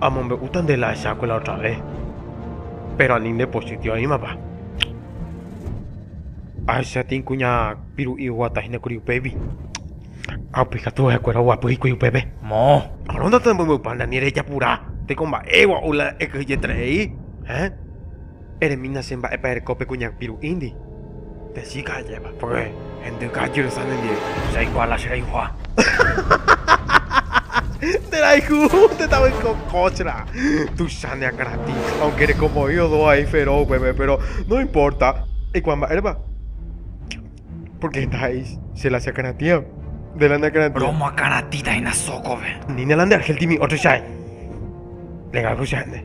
Amombe'úta nde la ahechakuaa la otra ves, péro ani ndepochytio oĩmapa. Ahecha tĩi kuña piru'i oguata hína kuri upégui, ha upe katu ha'ekuéra oguapy hikuái upépe. Moõ. Árõ ndatemombe'upa nde ani rejapura teko mba'égua ou la ekyhyjeterei, héẽ. Eremína che mba'épa ereko pe kuñapiru'índi. Pe chíka ajépa. Porque hendy ka'aky resa nendive. Che aikuaa la che rayhuha. Nde rayhu nde tavy ko kóchra. Tuicha ne akãratĩ. Aunque reko voi odo vai Fero upépe, pero no importa. Eikuaa mba'érepa. Porque heta he'i che la che akãratĩva. Nde la ne akãratĩva. Romo akãratĩta hína sókove. Ni ne la nde argel timi ótro chai. Legal ko che ha'e nde.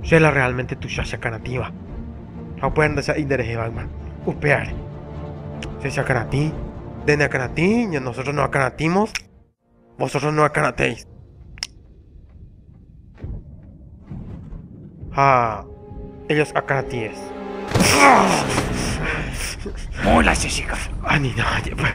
Che la realmente tuicha cheakãratĩva, ha upéva ndaisa'éi nderehevaýma upévare. Che cheakãratĩ, nde neakãratĩ, ña nosotros no akãratĩmos, vosotros no akãratéis. Ha ellos akãratĩes. Mola che chica. Ani nada, pues.